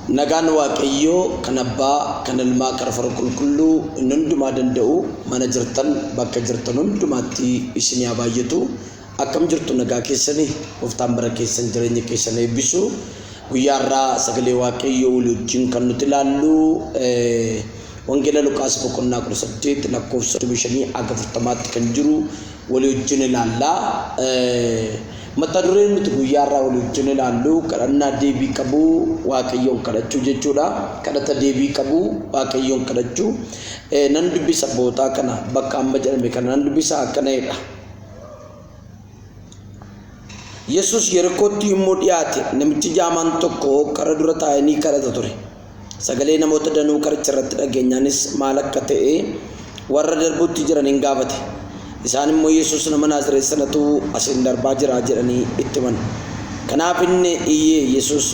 Nagaan Waaqayyoo kan Abbaa, kan Ilmaa, kan Hafuura Qulqulluu inni hundumaa danda'u mana jirtan bakka jirtan hundumaatti isinii haa baay'atu. Akkam jirtu nagaa keessanii gooftaan bara keessan jireenya keessan eebbisu guyyaa irraa sagalee waaqayyoo walii wajjin kan nuti ilaallu wangeela Luqaas boqonnaa 18 lakkoofsa 25 hanga 40tti kan jiru walii wajjin ilaalla. Mata dureen nuti guyyaa irraa walii wajjin ilaallu kadhannaa deebii qabu waaqayyoon kadhachuu jechuudha. Kadhata deebii qabu waaqayyoon kadhachuu nan dubbisa bootaa kana bakka amma jedhame kana nan dubbisa akkana jedha. Yesus Yerikootti yommuu dhiyaate, namichi jaamaan tokko kara dura taa'ee ni kadhata ture. Sagalee namoota danuu karicha irratti dhageenyaanis maal akka ta'e warra darbuutti jiran hin gaafate. Isaan immoo Yesus nama Naazireet sanatu asiin darbaa jira jedhanii itti himan. Kanaaf inni iyyee Yesus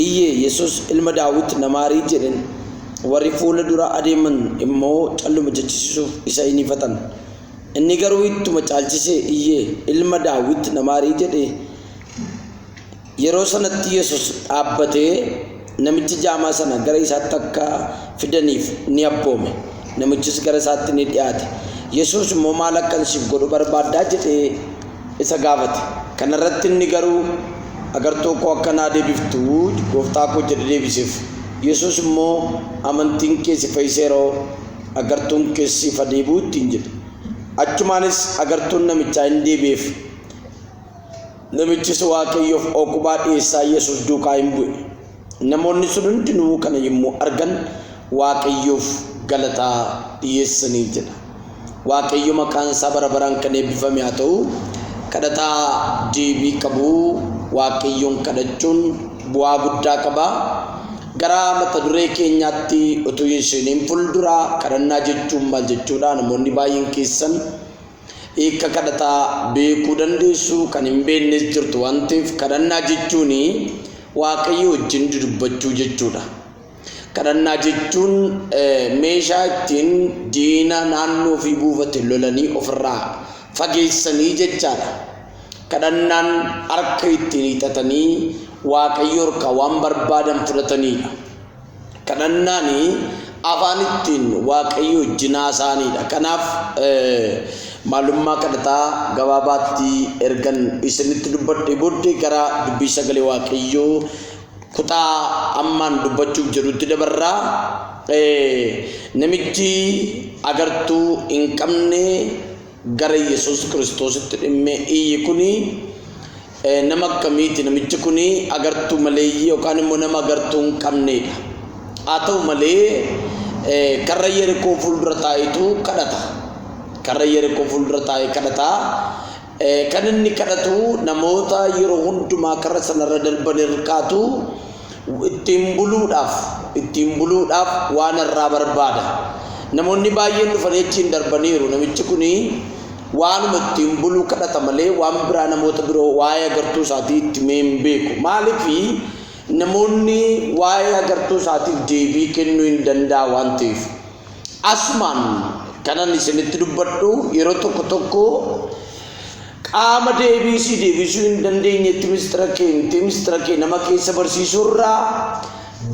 iyyee Yesus ilma Daawit na maarii jedheen. Warri fuula dura adeeman immoo calluma jechisiisuuf isa hin ifatan. Inni garuu ittuma caalchisee iyyee, Ilma Daawit, na maari! jedhe. Yeroo sanatti Yesus dhaabbatee namicha jaamaa sana gara isaatti akka fidaniif ni abboome. Namichis gara isaatti ni dhiyaate. Yesus immoo maal akkan siif godhu barbaaddaa jedhee isa gaafate. Kana irratti inni garuu agartoo koo akka naa deebiftu gooftaa koo jedhe deebiseef. Yesus immoo amantiin kee si fayyiseeroo? Agartuun kees siif haa deebi'u ittiin jedhe. Achumaanis agartuun namichaa in deebi'eef. Namichis Waaqayyoof ookubaa dhiyeessaa Yesus duukaa in bu'e. Namoonni sun hundinuu kana yommuu argan Waaqayyoof galataa dhiyeessanii jedha. Waaqayyo maqaan isaa bara baraan kan eebbifame haa ta'u. Kadhataa deebii qabu Waaqayyoon kadhachuun bu'aa guddaa qaba. Gara mata duree keenyaatti utuu hin seeniin fuldura, kadhannaa jechuun maal jechuudha? Namoonni baay'een keessan hiika kadhataa beekuu dandeessu, kan hin beeknes jirtu waan ta'eef kadhannaa jechuun Waaqayyo wajjin dudubbachuu jechuudha. Kadhannaa jechuun meeshaa ittiin diina naannoo ofii buufate lolanii ofirraa fageessanii jechaadha. Kadhannaan harka ittiin hiixatanii Waaqayyo irkaa waan barbaadan fudhataniidha. Kadhannaan afaan ittiin Waaqayyo wajjin haasa'aniidha. Kanaaf maalummaa kadhataa gabaabaatti ergan isinitti dubbadhee booddee gara dubbii sagalee Waaqayyoo kutaa ammaan dubbachuuf jedhutti dabarraa namichi agartuu hin qabne gara Yesuus Kiristoositti dhimmee iyyi kuni nama akkamiiti? Namichi kuni agartuu maleeyyii yookaan immoo nama agartuu hin qabneedha. Haa ta'u malee karra Yerikoo fuuldura taa'etu kadhata. Karra Yerikoo fuuldura taa'ee kadhata. Kan inni kadhatu namoota yeroo hundumaa karra sanarra darban irkaatu ittiin buluudhaaf ittiin buluudhaaf waan irraa barbaada. Namoonni baay'een dhufanii achiin darbaniiru. Namichi kun waanuma ittiin buluu kadhata malee waan biraa namoota biroo waa'ee agartuu isaatii itti mee hin beeku. Maaliif namoonni waa'ee agartuu isaatiif deebii kennuu hin danda'a waan ta'eef. Asumaan kanan isinitti dubbadhu yeroo tokko tokko Qaama deebii sii deebisuu hin dandeenyetti mistira kee himtee mistira kee nama keessa barsiisuurraa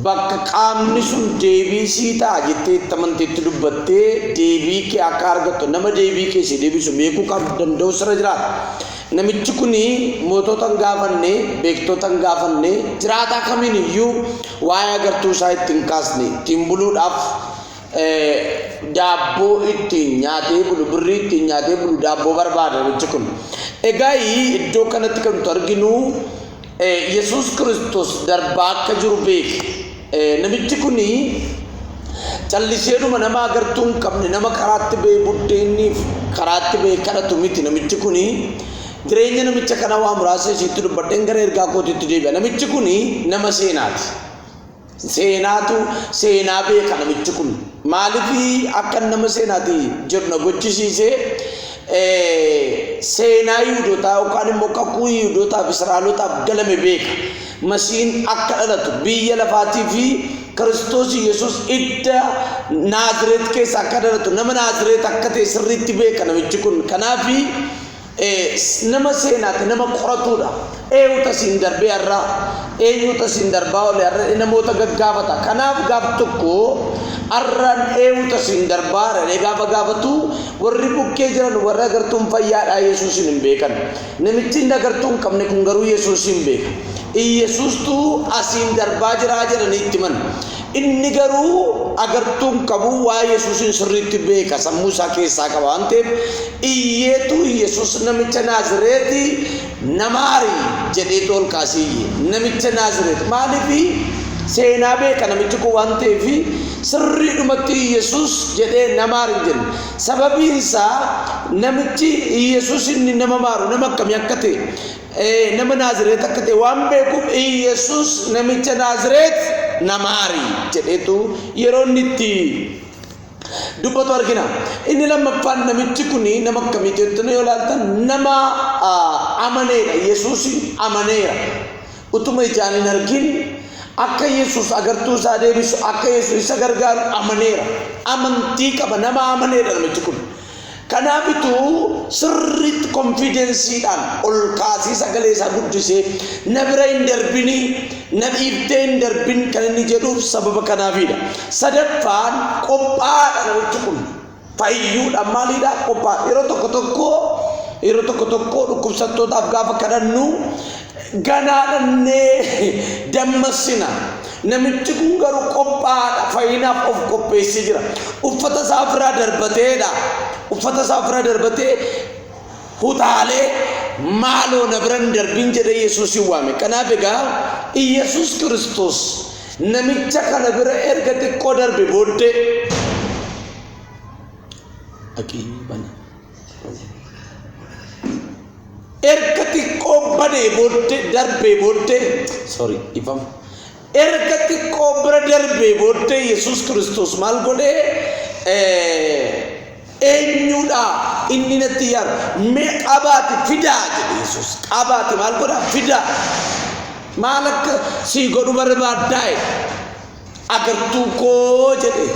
bakka qaamni sun deebii sii ta'a jettee itti amanteetti dubbattee deebii kee akka argattu nama deebii kee sii deebisu beekuu kan danda'u sirra jiraata. Namichi kun mootota hin gaafanne, beektota hin gaafanne, jiraataa kamiin iyyuu waa'ee agartuu isaa itti hin kaasne, ittiin buluudhaaf daabboo ittiin nyaatee bulu birrii ittiin nyaatee bulu daabboo barbaada namichi kun. Egaa iddoo kanatti kan nuti arginu Yesuus Kiristoos darbaa akka jiru beeki. Namichi kun calliseedhuma nama agartuu hin qabne nama karaatti ba'e buddeenniif karaatti ba'e kadhatu miti namichi kun jireenya namicha kana waa muraasa isiitti dubbadheen gara ergaa kootiitti deebi'a. Namichi kun nama seenaati. Seenaatu seenaa beeka namichi kun maalifi akka nama seenaati jedhu na gochisiise seenaa yihudotaa yookaan immoo kakuu yihudotaaf israa'elotaaf galame beeka masiin akka dhalatu biyya lafaatii fi kiristoos yesus idda naazireet keessa akka dhalatu nama naazireet akka ta'e sirriitti beeka namichi kun kanaafi nama seenaati nama qoratuudha eewuta siin darbee har'aa eenyuuta siin darbaa ole har'a namoota gaggaafata kanaaf gaaf tokko har'aan eewuta siin darbaa har'alee gaafa gaafatu warri bukkee jiran warra agartuun fayyaadhaa yesuusin hin beekan namichi inni agartuu hin qabne kun garuu yesuusin beeka iyesuustuu asiin darbaa jiraa jedhanii itti himan Inni garuu agartuu hin qabu, waa'ee Yesuusiin sirriitti beeka, sammuu isaa keessaa qaba waan ta'eef, iyyeetu Yesuus namicha Naazireeti na maari jedheetu ol kaasee iyye. Namicha Naazireeti maaliifi seenaa beeka namichi kun waan ta'eef sirriidhumatti Yesuus jedhee na maari hin jenne. Sababiin isaa namichi Yesuus inni nama maaru nama akkamii akka ta'e nama Naazireet akka ta'e waan beekuuf Iyyasuus namicha Naazireet na maari jedheetu yeroo inni itti dubbatu argina. Inni lammaffaan namichi kun nama akkamii jettanii yoo ilaaltan nama amaneedha. Yesuusiin amaneera. Utuma ijaan hin argin akka Yesuus agartuu isaa deebisu akka Yesuus isa gargaaru amaneera. Amantii qaba nama amaneedha namichi kun. Kanaafitu sirriitti konfiidensiidhaan ol kaasee sagalee isaa guddisee na bira hin darbinii na dhiiftee hin darbin kan inni jedhuuf sababa kanaafiidha. Sadaffaan qophaa'aadha namichi kun fayyuudha maaliidha qophaa'aadha. Yeroo tokko tokko yeroo tokko tokko dhukkubsattootaaf gaafa kadhannu Ganaa dhannee dammassina. Namichi kun garuu qophaa'aadha. Fayyinaaf of qopheessee jira. Uffata isaa ofirraa darbateedha. Uffata isaa ofirraa darbatee hutaalee maaloo na bira hin darbin jedhee Yesuusin waame. Kanaaf egaa Iyyasuus Kiristoos namicha kana bira erga xiqqoo darbe booddee dhaqii bana. erga xiqqoo badee booddee darbee booddee sorry ifama erga xiqqoo bira darbee booddee yesus kiristoos maal godhee eenyuudha inni natti yaaru mee qabaati fidaa jedhe yesus qabaati maal godha fidaa maal akka sii godhu barbaaddaa jedhe agartuu koo jedhe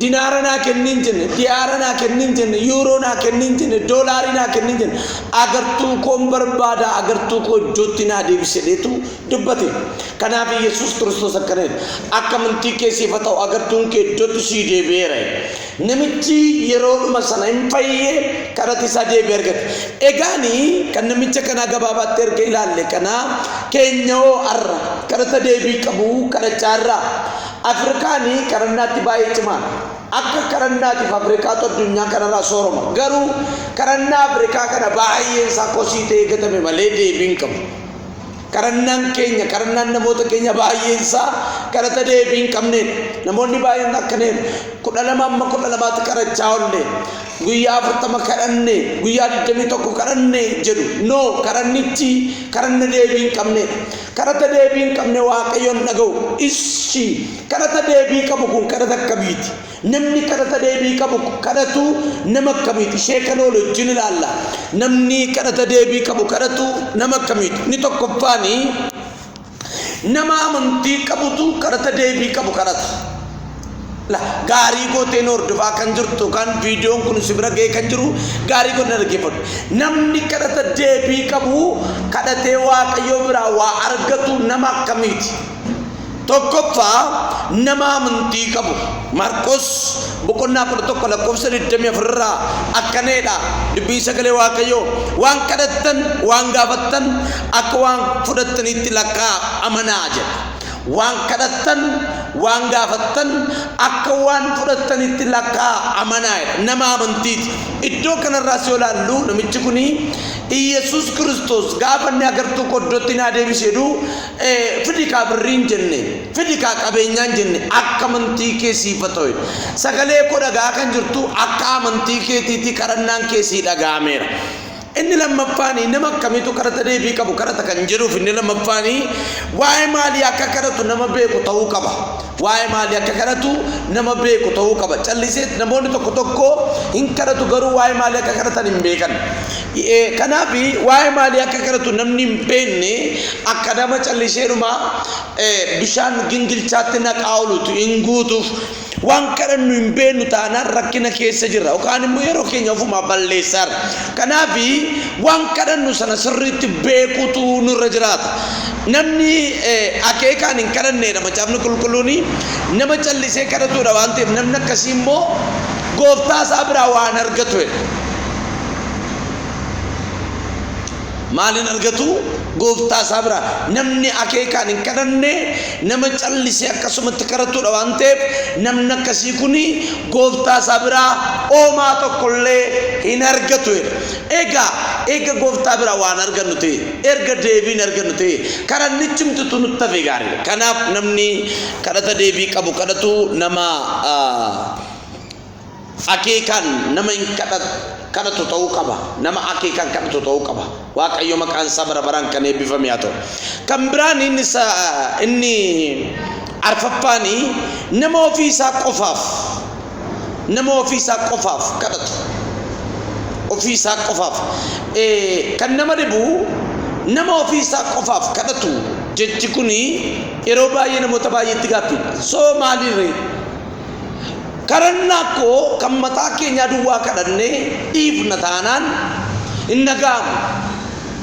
dinaara naa kennin jenne diyaara naa kennin jenne yuuroo naa kennin jenne doolaarii naa kennin jenne agartuu koon barbaada agartuu koo iddootti naa deebise deetu dubbate kanaaf yesus kiristoos akkana jedhe akka amantii kee siif haa ta'u agartuun kee iddootti sii deebi'eera jedhe. Namichi yeroodhuma sana hin fayye, kadhati isaa deebii argate. Egaani kan namicha kanaa gabaabaatti erga ilaalle kanaa keenya hoo arra kadhata deebii qabu kadhachaa irraa. Afrikaani kadhannaatti baay'ee cimaadha. Akka kadhannaatiif Afrikaatu addunyaa kanarraa sooroma. Garuu kadhannaa Afrikaa kana baay'een isaa kosii ta'ee gatame malee deebii hin qabu. Kadhannaan keenya, kadhannaan namoota keenya baay'een isaa kadhata deebii hin qabneedha. Namoonni baay'een akkaneeru. kudha lama amma kudha lamaatti kadhachaa oolle. Guyyaa afurtama kadhanne, guyyaa digdamii tokko kadhanne jedhu. No, kadhannichi kadhanna deebii hin qabneedha. Kadhata deebii hin qabne Waaqayyoon dhaga'u. Ishi kadhata deebii qabu kun kadhata akkamiiti? Namni kadhata deebii qabu kadhatu nama akkamiiti? Ishee kan oolu wajjin ilaalla. Namni kadhata deebii qabu kadhatu nama akkamiiti? Inni tokkoffaani nama amantii qabutu kadhata deebii qabu kadhata. La gaarii gooteen hordofaa kan jirtu kan viidiyoon kun si bira ga'ee kan jiru gaarii godhina dhaggeeffadhu. Namni kadhata deebii qabu kadhatee waaqayyoo biraa waa argatu nama akkamiiti? Tokkoffaa nama amantii qabu. Maarqos boqonnaa 11 lakkoofsa 24 irraa akkaneedha dubbiin sagalee Waaqayyoo waan kadhattan waan gaafattan akka waan fudhattaniitti lakkaa amanaa jedha. Waan kadhattan waan gaafattan akka waan fudhattanitti lakkaa amanaa jedha. Nama amantiiti. Iddoo kanarraas yoo laallu namichi kun Iyyasuus Kiristoos gaafa inni agartuu qoddootti naa deebise jedhu fidi kaa birriin jenne fidi kaa qabeenyaan jenne akka amantii kee siifa ta'e sagalee koo dhagaa kan jirtu akka amantii keetiitii kadhannaan kee sii dhaga'ameera. Inni lammaffaanii nama akkamiitu kadhata deebii qabu kadhata kan jedhuuf inni lammaffaanii waa'ee maalii akka kadhatu nama beeku ta'uu qaba. Waa'ee maalii akka kadhatu nama beeku ta'uu qaba. Calliseet namoonni tokko tokko hin kadhatu garuu waa'ee maalii akka kadhatan hin beekan. Kanaaf waa'ee maalii akka kadhatu namni hin beekne akka nama calliseedhuma bishaan gingilchaatti naqaa oolutu hin guutuuf waan kadhannu hin beeknu taanaan rakkina keessa jirra yookaan immoo yeroo keenya ofumaa balleessaarra. Kanaaf waan kadhannu sana sirriitti beekuutu nurra jiraata. Namni akeekaan hin kadhanneedha macaafni qulqulluun nama callisee kadhatuudha waan ta'eef namni akkasii immoo gooftaa isaa biraa waan argatu jedha. Maaliin argatu gooftaa isaa bira namni akeekaan hin kadhanne nama callisee akkasumatti kadhatudha waan ta'eef namni akkasii kun gooftaa isaa biraa oomaa tokkollee hin argatu jedha. Egaa eega gooftaa biraa waan argannu ta'e erga deebiin argannu ta'e kadhannichi mtutu nutti hafe gaariidha. Kanaaf namni kadhata deebii qabu kadhatu nama Akeekaan nama hin kadhatu ta'uu qaba. Nama akeekaan kadhatu ta'uu qaba. Waaqayyo maqaan isaa bara baraan kan eebbifame haa ta'u. Kan biraan inni isa inni arfaffaan nama ofii isaa qofaaf nama ofii isaa qofaaf kadhatu. Ofii isaa qofaaf Eh, kan nama dhibu nama ofii isaa qofaaf kadhatu jechi kun yeroo baay'ee namoota baay'eetti gaaffiidha. Soo maaliirree? Kadhannaa koo kan mataa keenyaa duwwaa kadhannee dhiifna taanaan hin dhaga'amu.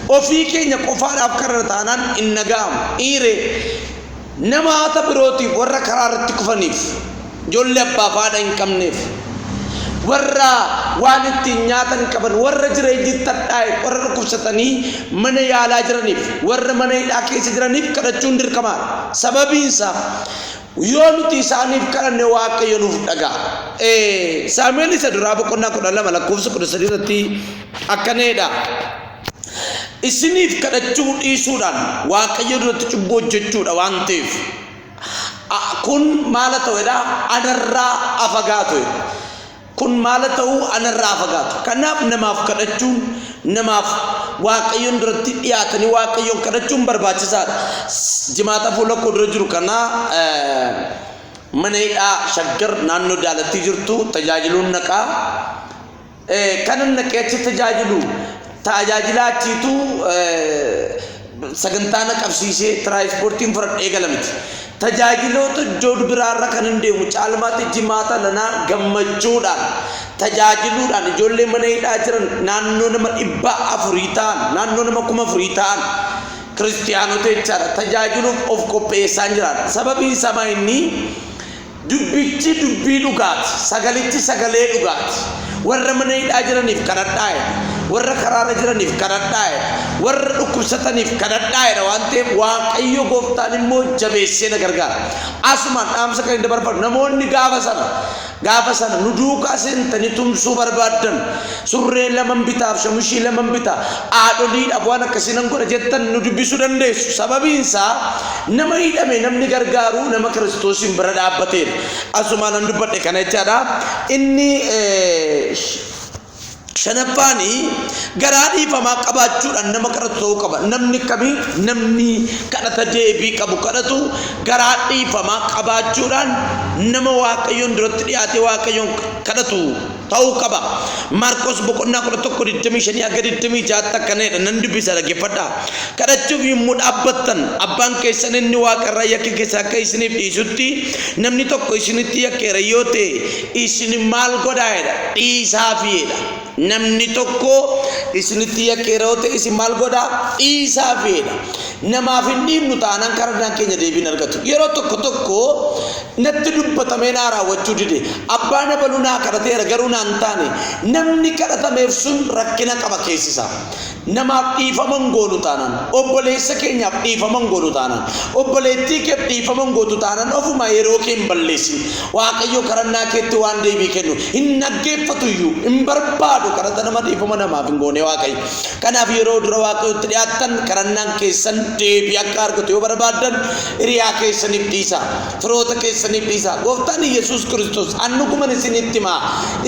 Ofii keenya qofaadhaaf kadhanna taanaan hin dhaga'amu. Iiree namaata birootiif warra karaa irratti kufaniif, ijoollee abbaa fi haadha hin qabneef, warra waan ittiin nyaatan hin qaban, warra jireenyi itti hadhaa'eef, warra dhukkubsatanii mana yaalaa jiraniif, warra mana hidhaa keessa jiraniif kadhachuun dirqamaadha. Sababiinsaa Yoo nuti isaaniif kadhanne Waaqayyo nuuf dhaga'a. Ee, Saamu'eel isa duraa boqonnaa kudha lama lakkoofsa kudha sadii irratti akkana jedha. Isiniif kadhachuu dhiisuudhaan Waaqayyo duratti cubbuu hojjechuudha waan ta'eef a- kun maala ta'edha anarraa afagaatu jedha. Kun maala ta'uu ana irraa haa fagaatu. Kanaaf namaaf kadhachuun, namaaf Waaqayyoon duratti dhiyaatanii Waaqayyoon kadhachuun barbaachisaadha. Jimaata fuula koo dura jiru kana mana hidhaa shaggar naannoo daalattii jirtu tajaajiluun naqaa. Kanan naqee achi tajaajilu tajaajilaa achiitu Sagantaa na qabsiisee tiraayispoortiin fudhadhe eegala miti. Tajaajiloota Jood biraarra kan hin deemu caalmaatti jimaata lanaa gammachuudhaan tajaajiluudhaan ijoollee mana hidhaa jiran naannoo nama dhibba afurii ta'an naannoo nama kuma afurii ta'an kiristiyaanota jechaadha tajaajiluuf of qopheessaan jiraadha. Sababiin isaa inni Dubbichi dubbii dhugaa ti, Sagalichi sagalee dhugaa ti. Warra mana hidhaa jiraniif kadhadhaa jedha, warra karaa irra jiraniif kadhadhaa jedha, warra dhukkubsataniif kadhadhaa jedha waan ta'eef Waaqayyo gooftaan immoo jabeessee na gargaara. Asumaan dhaamsa kan hin dabarfadhu namoonni gaafa sana gaafa sana nu duukaa seentanii tumsuu barbaaddan Surree laman bitaaf shamushii laman bita. Haadholiidhaaf waan akkasii nan godha jettan nu dubbisuu dandeessu. Sababiin isaa nama hidhame namni gargaaru nama Kiristoosiin bira dhaabbateedha. Asumaan nan dubbadhe kana jechaadha. Inni shanaffaan garaa dhiifamaa qabaachuudhaan nama kadhatu ta'uu qaba. Namni akkamii namni kadhata deebii qabu kadhatu garaa dhiifamaa qabaachuudhaan nama waaqayyoon duratti dhiyaatee waaqayyoon kadhatu ta'uu qaba. Maarqos boqonnaa 11 25 hanga 26tti akkana jedha nan dubbisa dhaggeeffadhaa. Kadhachuuf yommuu dhaabbattan abbaan keessan inni waaqa irraa yakka keessan akka isiniif dhiisutti namni tokko isinitti yakkeera yoo ta'e isin maal godhaa jedha dhiisaafi jedha. Namni tokko isinitti yakkeera yoo ta'e isin maal godhaa dhiisaafi jedha. Namaaf hin dhiibnu taanaan kadhannaan keenya deebii hin argatu. Yeroo tokko tokko natti dubbatamee naa raawwachuu dide. Abbaan abaluu naa kadhateera garuu naa hin taane. Namni kadhatameef sun rakkina qaba keessi isaa. Namaaf dhiifama hin goonu taanaan, obboleessa keenyaaf dhiifama hin goonu taanaan, obboleettii keef dhiifama hin gootu taanaan ofuma yeroo kee hin balleessin. Waaqayyo kadhannaa keetti waan deebii kennu hin dhaggeeffatu iyyuu, hin barbaadu kadhata nama dhiifama namaaf hin goone Waaqayyo. Kanaaf yeroo dura Waaqayyotti dhiyaattan kadhannaan keessan deebii akka argatu yoo barbaaddan hiriyaa keessaniif dhiisa. Firoota keessaniif dhiisa. Gooftaan Yesuus Kiristoos annuguman isinitti himaa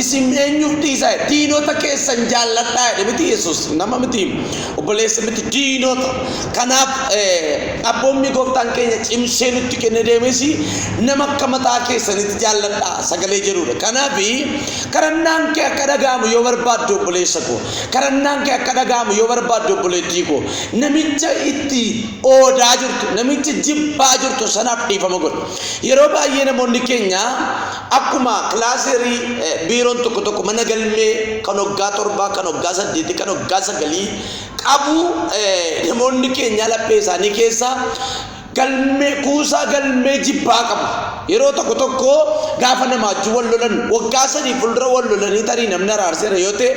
isin eenyuuf dhiisa diinota keessan jaalladhaa jedhe miti Yesuus nama miti obboleessa miti diinota. Kanaaf abboommii gooftaan keenya cimsee nutti kenne deemes nama akka mataa keessanitti jaalladhaa sagalee jedhudha. Kanaaf kadhannaan kee akka dhaga'amu yoo barbaaddu obboleessa koo Kadhannaan kee akka dhaga'amu yoo barbaadde obboleettii koo, namicha itti oodaa jirtu, namicha jibbaa jirtu sanaaf dhiifama godhi. Yeroo baay'ee namoonni keenya akkuma kilaaseerii eh, biiroon tokko tokko mana galmee kan waggaa torbaa, kan waggaa saddeetii, kan waggaa sagalii qabu eh, namoonni keenya laphee isaanii keessa galmee kuusaa galmee jibbaa qabu. Yeroo tokko tokko gaafa namaachuu wal lolan waggaa sadii fuuldura wal lolanii tarii namni araarseera yoo ta'e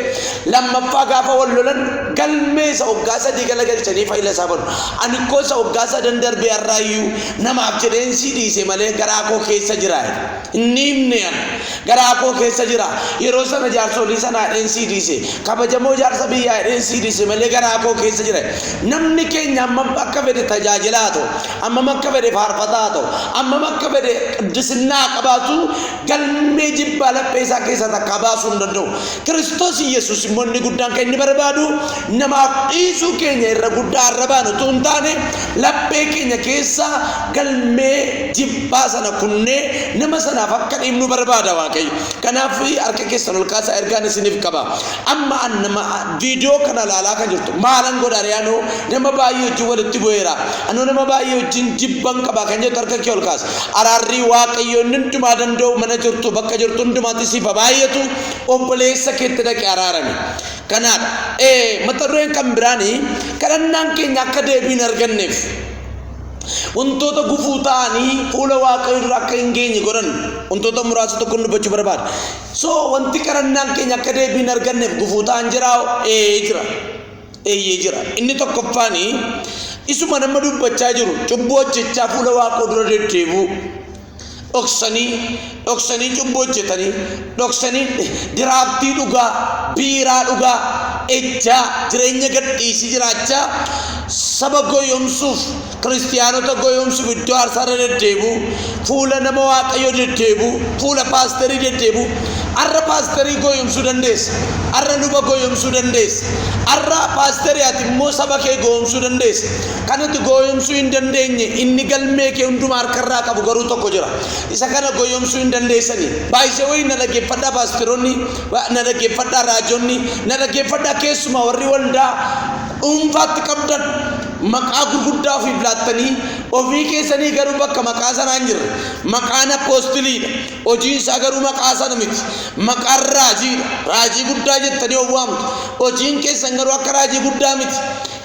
lammaffaa gaafa wal lolan galmee isa waggaa sadii gala galchanii fayyila isaa godhu. Ani koo isa waggaa sadan darbee har'aayyuu namaaf jedheen sii dhiise malee garaa koo keessa jira. Hin dhiifne an. Garaa koo keessa jira. Yeroo sana jaarsolii sana jedheen sii dhiise. Kabajamoo jaarsa biyyaa jedheen sii dhiise malee garaa koo keessa jira. Namni keenya hammam akka fedhe tajaajilaa haa ta'u, hammam akka fedhe faarfataa haa ta'u, hammam akka fedhe qiddisinaa haa qabaatu galmee jibbaa laphee isaa keessaa takkaa baasuu hin danda'u. Kiristoos Iyyasuus immoo inni guddaan kan inni barbaadu namaaf dhiisuu keenya irra guddaa arrabaan utuu hin taane laphee keenya keessaa Galmee jibbaa sana kunnee nama sanaaf akka dhiifnu barbaada Waaqayyo. Kanaaf harka keessan ol kaasaa ergaan isiniif qaba. Amma an nama viidiyoo kana ilaalaa kan jirtu maalan godha ree anoo nama baay'ee wajjin walitti bu'eera. Anoo nama baay'ee wajjin jibban qaba kan jettu harka kee ol kaas. Araarrii Waaqayyo inni hundumaa danda'u mana jirtu bakka jirtu hundumaatti siif haa baay'atu obboleessa keetti dhaqi araarami. Kanaadha. Ee mata dureen kan biraanii kadhannaan keenya akka deebii hin arganneef. Wantoota gufuu ta'anii fuula waaqayyo dura akka hin geenye godhan wantoota muraasa tokko dubbachuu barbaada. So wanti kadhannaan keenya akka deebii hin arganneef gufuu ta'an jiraa? Ee jira. Eeyyee jira. Inni tokkoffaan isuma nama dubbachaa jiru cubbuu hojjechaa fuula waaqoo dura deddeebi'u. dhoksanii dhoksanii cubbuu hojjetanii dhoksanii diraaftii dhugaa biiraa dhugaa ejjaa jireenya gadhiisii jiraachaa saba goyoomsuuf kiristiyaanota goyoomsuuf iddoo aarsaarra deddeebi'u fuula nama waaqayyoo deddeebi'u fuula paasterii deddeebi'u arra paasterii goyoomsuu dandeessa arra luba goyoomsuu dandeessa arra paasterii ati immoo saba kee goyoomsuu dandeessa Kan ati gooyomsuu hin dandeenye, inni galmee kee hundumaa harka irraa qabu garuu tokko jira. Isa kana gooyomsuu hin dandeessani. By the way, na dhaggeeffadhaa paastironni, na dhaggeeffadhaa raajonni, na dhaggeeffadhaa keessumaa warri waldaa dhuunfaatti qabdan maqaa gurguddaa ofiif laattanii ofii keessanii garuu bakka maqaa sanaa hin jirre. Maqaan appoostiliidha. Hojiin isaa garuu maqaa sana miti. Maqaan raajiidha. Raajii guddaa jettanii of waamtu. Hojiin keessan garuu akka raajii guddaa miti.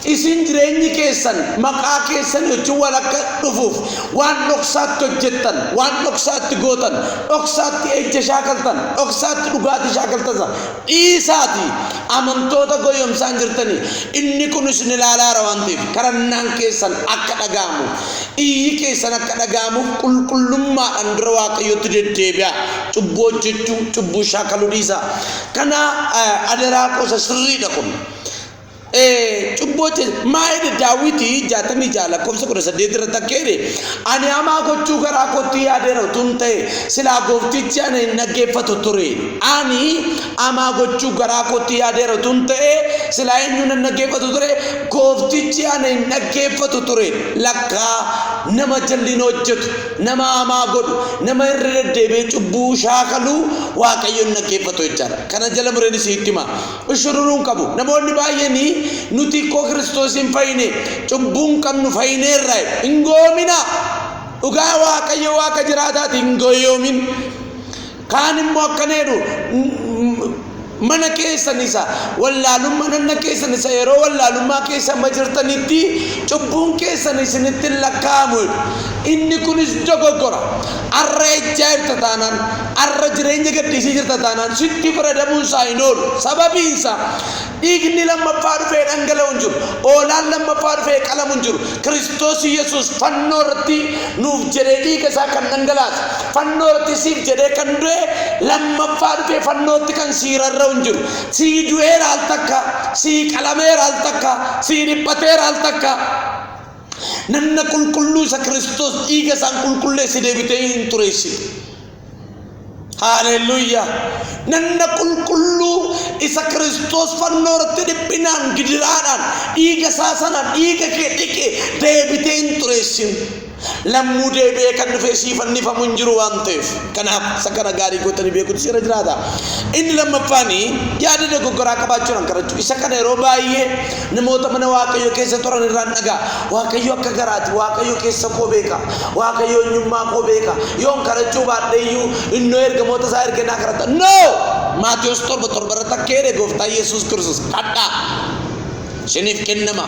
Isin jireenyi keessan maqaa keessanii wajjin wal akka dhufuuf waan dhoksaatti hojjettan, waan dhoksaatti gootan, dhoksaatti ejja shaakaltan, dhoksaatti dhugaatii shaakaltan sana dhiisaatii amantoota goyyomsaan jirtanii inni kun isin ilaalaara waan ta'eef kadhannaan keessan akka dhaga'amuuf, iyyi keessan akka dhaga'amuuf qulqullummaadhaan gara Waaqayyootti deddeebi'aa. Cubbuu hojjechuu, cubbuu shaakaluu dhiisaa. Kana eh, adaraa qosa sirriidha kun. cubbuu hojjete maa jedhe daawwiti jaatamii ja'a lakkoofsa kudha saddeet irratti akka jedhe ani hamaa gochuu garaa kootti yaadeera utuu hin ta'e silaa gooftichi ana hin dhaggeeffatu ture ani hamaa gochuu garaa kootti yaadeera utuu hin ta'e silaa eenyuun hin dhaggeeffatu ture gooftichi ana hin dhaggeeffatu ture lakkaa nama jal'ina hojjetu nama hamaa godhu nama irra deddeebi'ee cubbuu shaakaluu waaqayyo hin dhaggeeffatu jechaadha kana jala mureen isiitti hima Qushururuun qabu. Namoonni baay'een nuti ikkoo Kiristoosiin fayine, cubbuun qabnu fayineerra jedhu. Hin gowoominaa. Dhugaa Waaqayyo Waaqa jiraataati hin goyoomin. Kaan immoo akkana jedhu mana keessan isa wallaalummaa nanna keessan isa yeroo wallaalummaa keessa amma jirtanitti cubbuun keessan isinitti hin lakkaa'amu jedhu. Inni kunis dogoggora. Arra ejjaa jirta taanaan, arra jireenya gadhiisii jirta taanaan sitti faradamuun isaa hin oolu. Sababiin isaa dhiigni lammaffaa dhufee dhangala'u hin jiru. Oolaan lammaffaa dhufee qalamu hin jiru. Kiristoos Yesuus fannoo irratti nuuf jedhee dhiiga isaa kan dhangalaase, fannoo irratti siif jedhee kan du'e lammaffaa dhufee fannootti kan sii rarra'u hin jiru. Sii du'eera al takka, sii qalameera al takka, sii dhiphateera al takka. Nanna qulqulluu isa Kiristoos dhiiga isaan qulqulleesse deebitee hin xureessine. Haaleluyyaa! Nanna qulqulluu isa Kiristoos fannoo irratti dhiphinaan gidiraadhaan dhiiga isaa sana dhiiga kee dhiqe deebitee hin xureessin. Lammuu deebi'ee kan dhufee sii fannifamu hin jiru waan ta'eef. Kanaaf isa kana gaarii gootanii beekuutu seera jiraata. Inni lammaffaanii yaada dogoggoraa qabaachuudhaan kadhachuu. Isa kana yeroo baay'ee Namoota mana Waaqayyo keessa turan irraan dhagaa. Waaqayyo akka garaati. Waaqayyo keessa koo beeka. Waaqayyo eenyummaa koo beeka. Yoon kadhachuu baadhee iyyuu innoo ergamoota isaa ergee naa kadhata. No! Maatiyos torba torba irratti akka jedhe gooftaa Yesuus Kiristoos kadhaa. Isiniif kennama.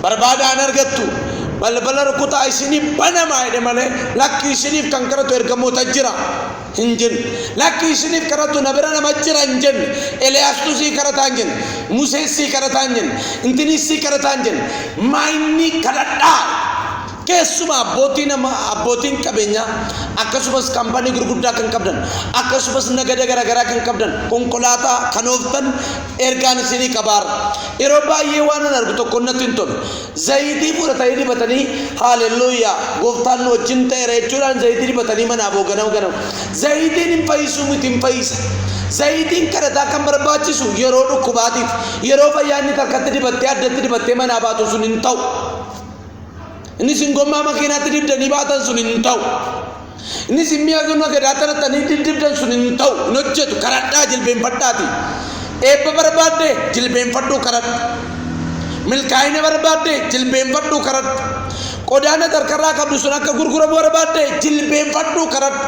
Barbaadaa hin argattu. Balbala rukutaa isiniif banamaa jedhe malee lakki isiniif kan kadhatu ergamoota jira. hin jenne. Lakki isiniif kadhatu na bira nama jira hin jenne. Eliyaastu sii kadhataa hin jenne. Museen sii kadhataa hin jenne. Intinii sii kadhataa hin jenne. Maayinni kadhadhaa. Keessumaa abbootii nama abbootiin qabeenyaa akkasumas kaampaanii gurguddaa kan qabdan akkasumas nagada garaagaraa kan qabdan konkolaataa kan ooftan ergaan isinii qabaarra. Yeroo baay'ee waan an argu tokko natti hin tolu. Zayitii fudhatanii dibatanii Haalelluuyyaa! Gooftaan nu wajjin ta'eera jechuudhaan zayitii dibatanii manaa ba'u ganama ganama. Zayitiin hin fayyisuu miti hin fayyisa. Zayitiin kadhataa kan barbaachisu yeroo dhukkubaatiif, yeroo fayyaa inni harkatti dibattee addatti dibattee manaa baatu sun hin ta'u. Inni isin gommaa makiinaatti dibdanii baatan sun hin ta'u. Innis hin mi'a zunna gadaa tanatti ani diddibdan sun hin ta'u hin hojjetu karadhaa jilbeenfadhaati. Eebba barbaadde jilbeenfadhuu karadhu. Milkaa'ina barbaadde jilbeenfadhuu karadhu. Qodaa nati harkarraa qabdu sun akka gurguramu barbaadde jilbeenfadhuu karadhu.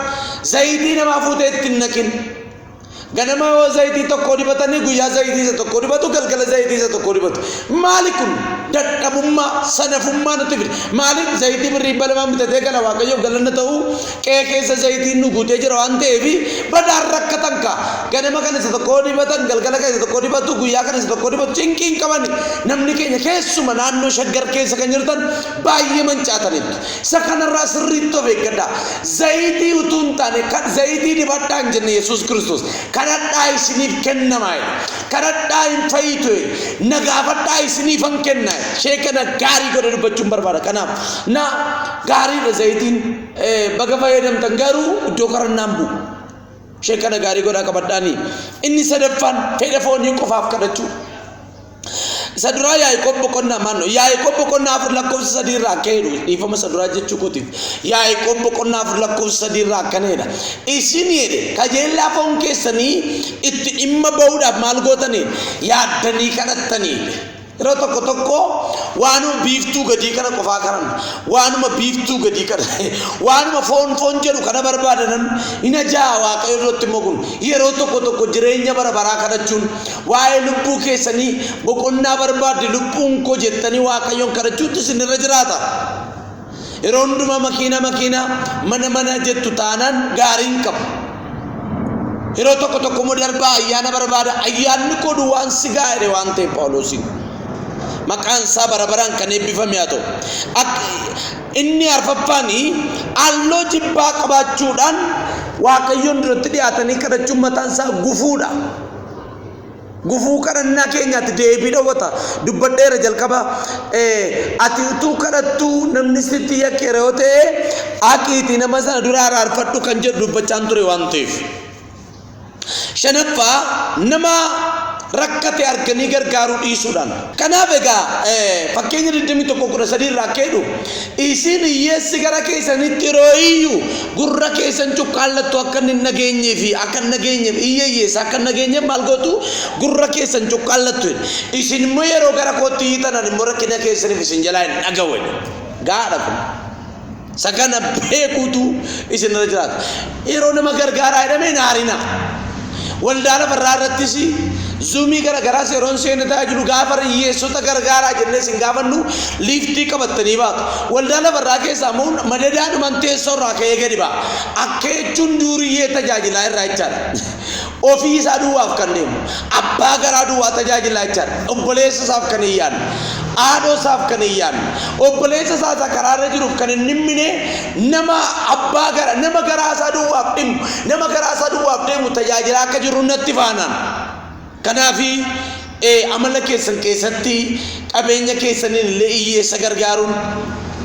Zayitii namaa fuutee itti hin naqin. Ganamaa hoo zayitii tokko dibatanii guyyaa zayitii isa tokko dibatu galgala zayitii isa tokko dibatu. Maali kun dadhabummaa sanafummaa nutti fide. Maaliif zayitii birrii dhibba lamaan bitatee gala waaqayyoof galanna ta'uu qe'ee keessa zayitiin nu guutee jira waan ta'eef badaan rakkatan kaa. Ganama kan isa tokko dibatan galgala kan isa tokko dibatu guyyaa kan isa tokko dibatu cinqii hin qabani. Namni keenya keessuma naannoo shaggar keessa kan jirtan baay'ee mancaataniitu. Isa kanarraa sirriitti of eeggadhaa. Zayitii utuu hin taane kan zayitii dibadhaa hin jenne Yesuus Kiristoos. Kadhadhaa isiniif kennama jedhe. Kadhadhaa hin fayyitu jedhe. Na gaafadhaa isiniifan kenna jedhe. Ishee kana gaarii godhee dubbachuun barbaada. Kanaaf na gaariidha zayitiin eh, baga fayyadamtan garuu iddoo kadhannaan bu'u. Ishee kana gaarii godhaa qabadhaanii. Inni sadaffaan fedha foonii qofaaf kadhachuu. Isa duraa Yaaqoob boqonnaa maannoo Yaaqoob boqonnaa afur lakkoofsa sadii irraa akka jedhu dhiifama isa duraa jechuu kootiif Yaaqoob boqonnaa afur lakkoofsa sadii irraa akkana jedha isin jedhe kajeellaa foon keessanii itti dhimma ba'uudhaaf maal gootanii yaaddanii kadhattanii yeroo tokko tokko waanuma biiftuu gadii kana qofaa kanan waanuma biiftuu gadii kana waanuma foon foon jedhu kana barbaadanan hin ajaa'a waaqayyo irratti immoo kun yeroo tokko tokko jireenya bara baraa kadhachuun Waa'ee lubbuu keessanii boqonnaa barbaaddi lubbuun koo jettanii Waaqayyoon kadhachuutti isin irra jiraata. Yeroo hundumaa makiina makiina mana mana jettu taanaan gaarii hin qabu. Yeroo tokko tokko immoo darbaa ayyaana barbaada ayyaanni koo duwwaan si gaa'edhe waan ta'eef Phaawuloosiin. Maqaan isaa bara baraan kan eebbifame haa ta'u. Akka inni arfaffaan halloo jibbaa qabaachuudhaan Waaqayyoon duratti dhiyaatanii kadhachuun mataan isaa gufuudha. Gufuu kadhannaa keenyaatti deebii dhowwata. Dubbadheera jalqaba ati utuu kadhattuu namni sitti yakkeera yoo ta'e haqiitii nama sana dura araarfadhu kan jedhu dubbachaan ture waan ta'eef. Shanaffaa nama rakkate arganii gargaaruu dhiisuudhaan. Kanaaf egaa fakkeenya 21:13 irraa akka jedhu Isin hiyyeessi gara keessanitti yeroo iyyu, gurra keessan cuqqaallattu akka inni hin dhageenyee fi akka hin dhageenyeef, iyya hiyyeessaa akka hin dhageenyeef maal gootu? Gurra keessan cuqqaallattu jedhe. Isin immoo yeroo gara kootti iyyitan ani immoo rakkina keessaniif isin jalaa hin dhaga'u jedhe. Gaadha kun. Isa kana beekuutu isinirra jiraata. Yeroo nama gargaaraa jedhamee hin aarinaa. Waldaa lafarraa irrattis zuumii gara garaas yeroon seenne tajaajilu gaafa hiyyeessota gargaaraa jennee isin gaafannu liiftii qabattanii baatu. Waldaa lafarraa keessaa immoo madadaadhuman teessoo irraa ka'ee gadi ba'a. Akka jechuun duuriyyee tajaajilaa irraa jechaadha. Ofii isaa duwwaaf kan deemu, abbaa garaa duwwaa tajaajilaa jechaadha. Obboleessa isaaf kan hin yaadne, haadhoo isaaf kan hin yaadne, obboleessa isaa isa karaa irra jiruuf kan hin dhimmine, nama abbaa gara, nama garaa isaa duwwaaf dhimmu, nama garaa isaa duwwaaf deemu tajaajilaa akka jirru natti faanaan. Kanaafi ee amala keessan keessatti qabeenya keessaniin illee iyyeessa gargaaruun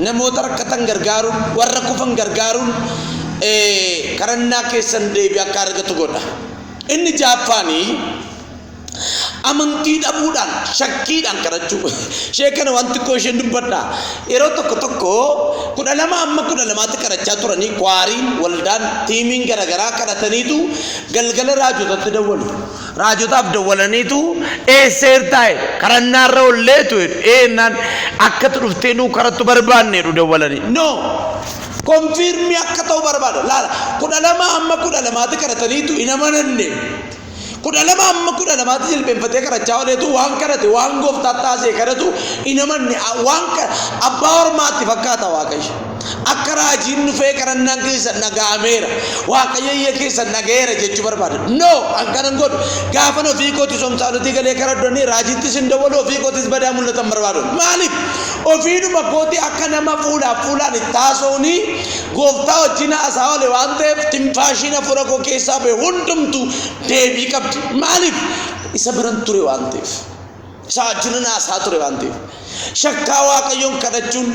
namoota rakkatan gargaaruun warra kufan gargaaruun ee kadhannaa keessan deebii akka argatu godha inni jaaffaanii amantii dhabuudhaan shakkiidhaan kadhachuu ishee kana waan xiqqoo isheen dubbadha yeroo tokko tokko kudha lama amma kudha lamaatti kadhachaa turanii kwaariin waldaan tiimiin garagaraa kadhataniitu galgala raajotatti dawwalu Raajotaaf dawwalaniitu eesseertaa jedhu. Kadhannaarra olleetu jedhu. Ee jennaan akkatu dhuftee nuu kadhattu barbaanne jedhu dawwalanii. No! Konfiirmii akka ta'u barbaada. Laala kudha lama amma kudha lamaati kadhataniitu hin amananne. Kudha lama amma kudha lamaati jilbeenfatee kadhachaa oleetu waan kadhate waan gooftaa taasee kadhatu hin amanne. Waan abbaa ormaatti fakkaata waaqayyo. Akka raajiin dhufee kadhannaan keessan dhaga'ameera. Waaqayyo iyya keessan dhaga'eera jechuu barbaada. No, an kanan godhu gaafan ofii kooti somsaalutii galee karadhonni raajiittis hin dawwalu ofii kootis badaa mul'atan barbaadu. Maaliif? Ofiidhuma kooti akka nama fuulaaf fuulaan itti haasa'uuni gooftaa wajjin haasaa oole waan ta'eef tinfaashiin hafuura koo keessaa ba'e hundumtu deebii qabdi. Maaliif? Isa biran ture waan ta'eef. isaa wajjin haasaa ture waan ta'eef shakkaa waaqayyoon kadhachuun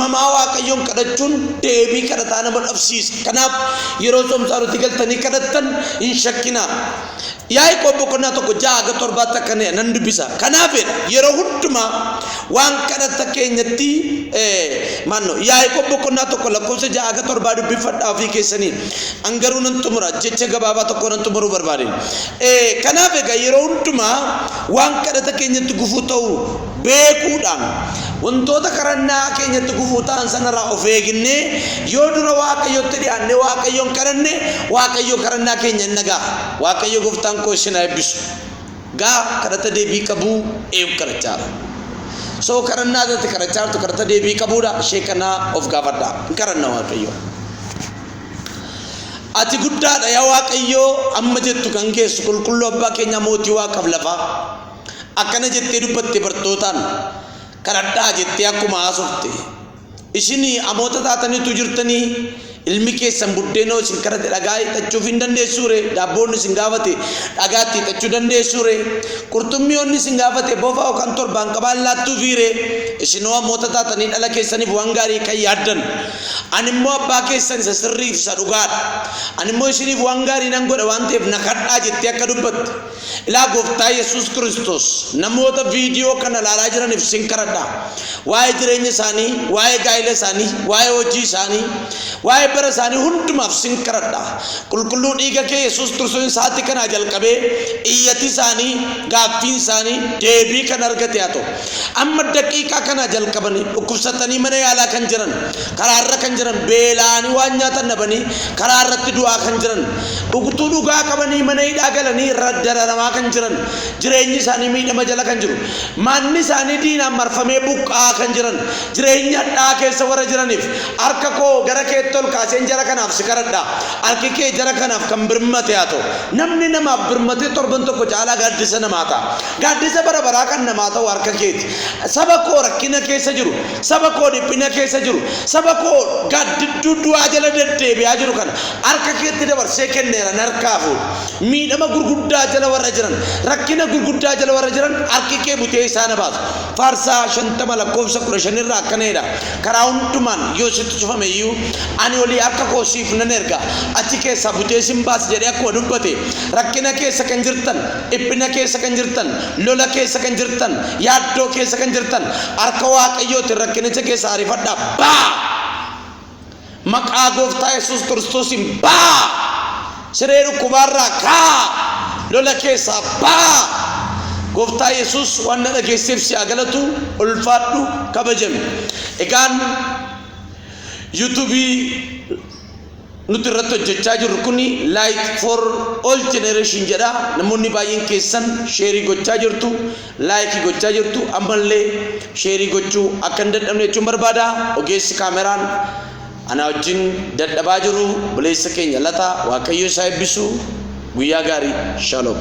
mamaa waaqayyoon kadhachuun deebii kadhataa nama dhabsiisa kanaaf yeroo somsaanutti galtanii kadhattan hin shakkinaa yaa'ii qobbo qonnaa tokko ja'a aga torbaatti akka nan dubbisa kanaaf yeroo hundumaa waan kadhata keenyatti maanno yaa'ii qobbo qonnaa tokko lakkoofsa ja'a aga torbaa dubbifadhaa ofii keessanii angaruu nan xumura jecha gabaabaa tokko nan xumuruu barbaade kanaaf egaa yeroo hundumaa Waan kadhata keenyatti gufuu ta'u beekuudhaan, wantoota kadhannaa keenyatti gufuu ta'an sanarraa of eegnee yoo dura Waaqayyotti dhiyaannee Waaqayyoon kadhanne, Waaqayyo kadhannaa keenya in dhaga'a. Waaqayyo Gooftaan koo isin haa eebbisu. Gaa kadhata deebii qabu eeyuun kadhachaa jira? So kadhannaa irratti kadhachaa jirtu kadhata deebii qabuudha. Ishee kana of gaafadhaa. In kadhanna Waaqayyoon. Ati guddaadha yaa Waaqayyoo amma jettu kan geessu qulqulluu abbaa keenya mootii waaqaaf lafaa. Akkana jettee dubbatte bartootaan kadhadhaa jettee akkuma haasofte. Isin amoota taataniitu jirtanii ilmi keessan buddeenoo isin kadhate dhagaa hiixachuuf hin dandeessuure daabboonni isin gaafate dhagaatti hiixachuu dandeessuure qurxummiyoonni isin gaafate bofa yookaan torbaan qabaan laattuufiire isinoo amoota taatanii dhala keessaniif waan gaarii kan yaaddan Ani immoo abbaa keessan isa sirrii fi isa dhugaa dha. Ani immoo isiniif waan gaarii nan godha waan ta'eef na kadhaa jettee akka dubbatte. Ilaa gooftaa Yesuus Kiristoos namoota viidiyoo kana ilaalaa jiraniif sin kadhadha. Waa'ee jireenya isaanii, waa'ee gaa'ila isaanii, waa'ee hojii isaanii, waa'ee bara isaanii hundumaaf sin kadhadha. Qulqulluu dhiiga kee Yesuus Kiristoos sa'aatii kanaa jalqabee iyyati isaanii, gaaffiin isaanii deebii kan argate haa ta'u. Amma daqiiqaa kanaa jalqabanii dhukkubsatanii mana yaalaa kan jiran, karaa irra kan jiran, beela'anii waan nyaatan dhabanii karaa irratti du'aa kan jiran, utuu dhugaa qabanii mana hidhaa galanii ra- dararamaa kan jiran, jireenyi isaanii miidhama jala kan jiru, manni isaanii diinaan marfamee buqqa'aa kan jiran, jireenya hadhaa'aa keessa warra jiraniif harka koo gara keetti ol kaaseen jara kanaaf si kadhadha. Harki kee jara kanaaf kan birmate haa ta'u. Namni namaaf birmatee torban tokko caalaa gaaddisa namaa ta'a. Gaaddisa bara baraa kan namaa ta'u harka keeti. Saba koo rakkina keessa jiru, saba koo dhiphina keessa jiru, saba koo gaaddidduu du'aa jala deddeebi'aa jiru kana harka keetti dabarsee kenneera narkaa fuudhi. Miidhama gurguddaa jala warra jiran, rakkina gurguddaa jala warra jiran harki kee butee isaan haa baasu. Faarsaa 50 lakkoofsa 15 irraa akkana jedha, Karaa hundumaan yoo sitti cufame iyyuu, ani olii harka koo siif nan erga, achi keessaa butee sin baasa jedhee akkuma dubbate, rakkina keessa kan jirtan, Dhiphina keessa kan jirtan, lola keessa kan jirtan, yaaddoo keessa kan jirtan, harka Waaqayyootiin rakkinicha keessaa arifadhaa ba'aa! Maqaa gooftaa Yesuus Kiristoosiin ba'aa! Siree dhukkubaarraa ka'aa! Lola keessaa ba'aa! Gooftaa Yesuus waan na dhageesseef si haa galatu, ulfaadhu, kabajami. Egaan yuutuubii Nuti irratti hojjechaa jirru kun Light for All Generation jedha. Namoonni baay'een keessan sheerii gochaa jirtu, laayikii gochaa jirtu, ammallee sheerii gochuu akka hin dadhabne jechuun barbaada. Ogeessi kaameraan anaa wajjin dadhabaa jiru buleessa keenya lata waaqayyo isaa eebbisu guyyaa gaarii shalom.